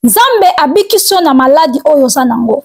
nzambe abikisi yo na maladi oyo oza nango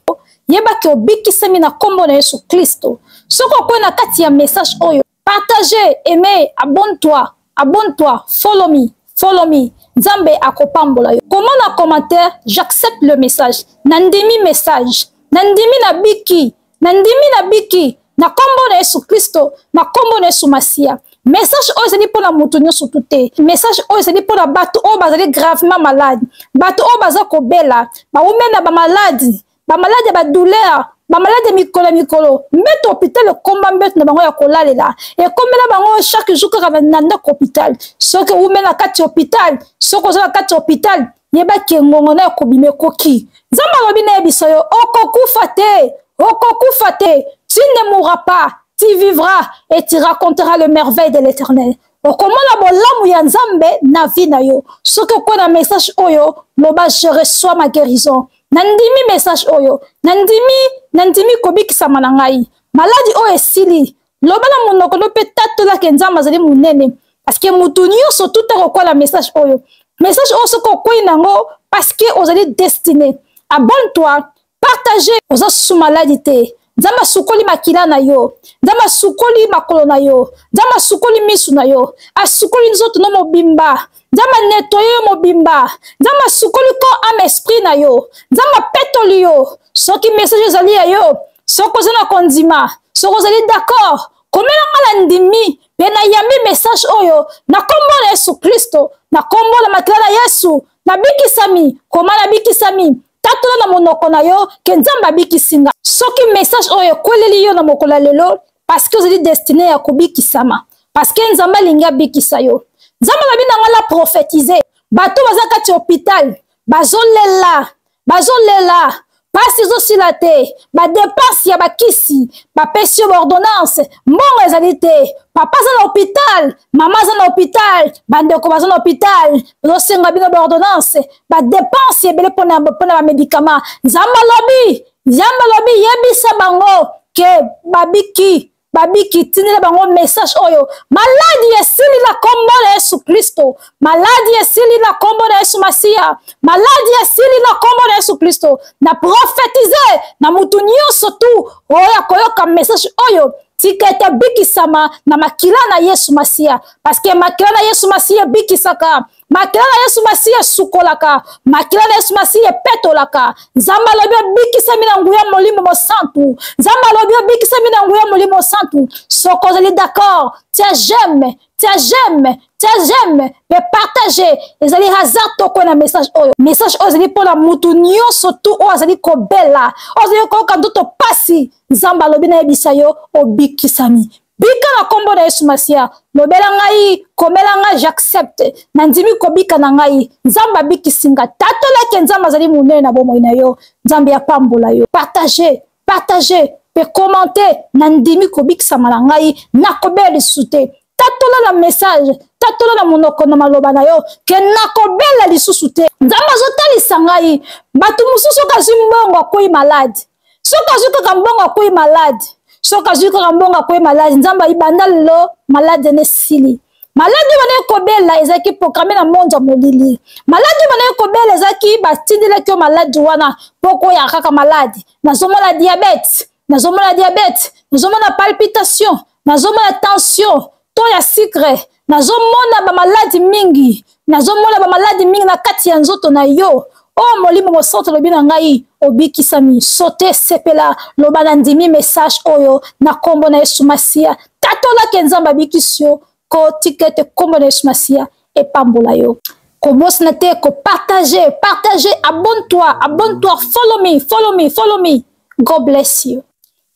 yeba ke obikisami na nkombo na yesu klisto soki okwei na kati ya message oyo partage aime abonne toi abonne toi follow me follow me nzambe akopambola yo komona commentaire j'accepte le message nandimi message nandimi nabiki nandimi nabiki na nkombo na yesu kristo na nkombo na yesu masiya message oyo ezali mpo na moto nyonso tu te message oyo ezali mpo na bato oyo bazali gravement malade bato oyo baza kobela bawumeli na bamaladi bamaladi ya badouleur bamaladi ya mikolo ya mikolo mbeto hôpital ekomba mbeto na bango ya kolalela ekomela bango chaque jour kaka na ndako hôpital soki owumeli na kati ya hôpital soki oza na kati ya hôpital yebaki engongo nayo kobima ekoki nzambe alobi nayebisa yo okokufa te okokufa te tu ne mourra pas tu vivra et tu racontera le merveille de l'éternel okomona bolamu ya nzambe na vie na yo soki okwe na message oyo loba je reçois ma guérison nandimi message oyo nandimi nandimi kobikisama na ngai maladi oyo esili loba na monoko no mpe tatola ke nzambe azali monene parceke motu nyonso tuta kokwala message oyo message oyo soki okwei na yango parceke ozali destine abonne toi partage oza susu maladi te nzambe asukoli makila na yo nzambe asukoli makolo na yo nzambe asukoli misu na yo asukoli nzoto no mobimba nzambe anetoye yo mobimba nzambe asukoli ko ame esprit na yo nzambe apetoli yo soki message ezali ya yo soki oza na kondima soki ozali d'accord komela nga na ndimi mpe nayambi message oyo na nkombo na yesu kristo na nkombo na makila na yesu nabikisami koma nabikisami tatola na monoko na yo ke nzambe abikisi nga soki message oyo ekweleli yo na mokolo ya lelo parce que ozali destine ya kobikisama parce que nzambe alingi abikisa yo nzambe alobi na ngai na prophétise bato baza kati ya hôpital bazolela bazolela mpasi ezosila te badepense ya bakisi bapesi yo baordonnance mbongo ezali te papa aza na hôpital mama aza na hôpital bandeko baza na hôpital bazosenga bino baordonnance badepense ebele mpona bamedikama nzambe alobi Nzambe alobi yebisa bango ke babiki babiki tindela bango message oyo maladi esili na kombo na yesu kristo maladi esili na kombo na yesu masiya maladi esili na kombo na yesu kristo na profetize na motu nyonso tu oyo akoyoka message oyo tika ete abikisama na makila na yesu masiya parceke makila na yesu masiya ebikisaka makila na yesu masiya esukolaka makila na yesu masiya epetolaka nzambe alobi obikisami na nguya molimo mosantu nzambe alobi obikisami na nguya molimo mosantu soko ozali d'accord tia j'aime tia j'aime tia j'aime mpe partage ezali hasard toko na message oyo message oyo ezali mpo na motu nyonso tu oyo azali kobela oyo azali koyoka ndoto mpasi nzambe alobi nayebisa yo obikisami bika na nkombo na yesu masiya lobela ngai komela ngai j'accepte nandimi kobika na ngai nzambe abikisi nga tatola ete nzambe azali monene na bomoi na yo nzambe apambola yo partage partage mpe komante nandimi kobikisama na ngai nakobela lisusu te tatola na message tatola na monoko na maloba na yo ke nakobela lisusu te nzambe azotalisa ngai bato mosusu oyo azwi mbongo akwei malade soki azwi kaka mbongo akwei malade soki azwi kaka mbongo akwei malade nzambe ayibanda lelo malade ene esili maladi oyo bandaki kobela ezalaki programe na monde ya molili maladi oyo bandaki kobela ezalaki batindelaki yo maladi wana mpo koyaka kaka maladi nazomona diabete nazomona diabete nazomona palpitation nazomona tension to ya sucre nazomona bamaladi mingi nazomona bamaladi mingi na kati ya nzoto na yo o oh, molimo mosanto olobi na ngai obikisami sote sepela loba na ndimi message oyo na nkombo na yesu masiya tatolaki nzambe abikisi yo kotika ete nkombo na yesu masiya epambola yo kobosana te kopartage partage abonne toi abonne toi follow me follow me follow me god bless you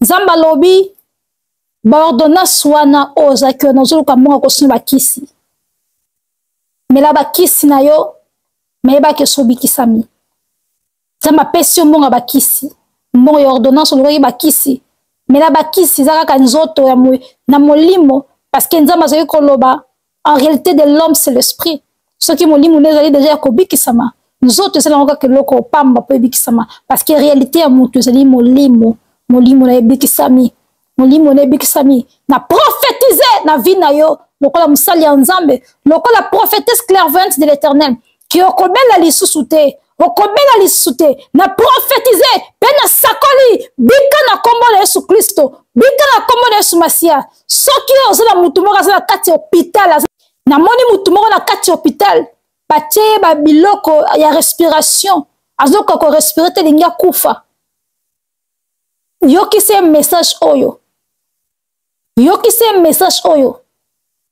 nzambe alobi baordonnance wana oyo ozalaki wana ozoluka mbongo kosina bakisi mela bakisi na yo mayebaki esi obikisami nzambe apesi yo mbongo ya bakisi mbongo ya ordonnance olukaki bakisi mela bakisi eza kaka nzoto ya mo, na molimo parceke nzambe azalaki koloba en réalité de l'homme c'est l'esprit soki molimo nde ezali deja ya kobikisama nzoto ezali yango kaka eloko pamba mpo ebikisama parce que réalité ya moto ezali molimo molimo na ebikisami molimo na ebikisami na prophétise na vie na yo lokola mosali ya nzambe lokola prophétesse clairvoyante de l'éternel ki okobela lisusu te okobela lisusu te na profetize mpe na sakoli bika na nkombo na yesu kristo bika na nkombo na yesu masiya soki oyo oza na motu moko aza na kati ya hopitale namoni motu moko na kati ya hopitale batie ye babiloko ya respiration azokoka korespire te elingi akufa yokisa ye message oyo yokisa ye message oyo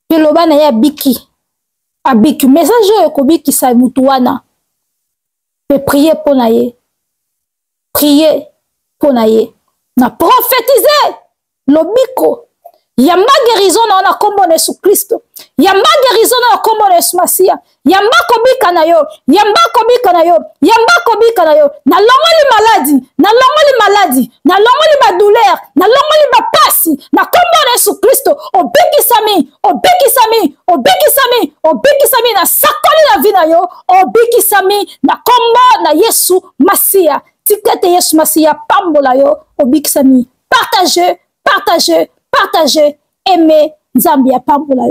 mpe loba na ye abiki abiki message oyo ekobikisa motu wana mpe prie mpo na ye prie mpo na ye na profetize lobiko yamba gerizon na yo na nkombo na yesu kristo yamba gerizon na yo na nkombo na yesu masiya yamba kobika na yo yamba kobika na yo yamba kobika na yo nalongoli maladi nalongoli maladi nalongoli badouleur nalongoli bapasi na nkombo na yesu kristo obikisami obikisami obikisami obikisami na sakoli na vi na yo obikisami na nkombo na yesu masiya tika ete yesu masiya apambola yo obikisami partage partage partage aime nzambe apambola yo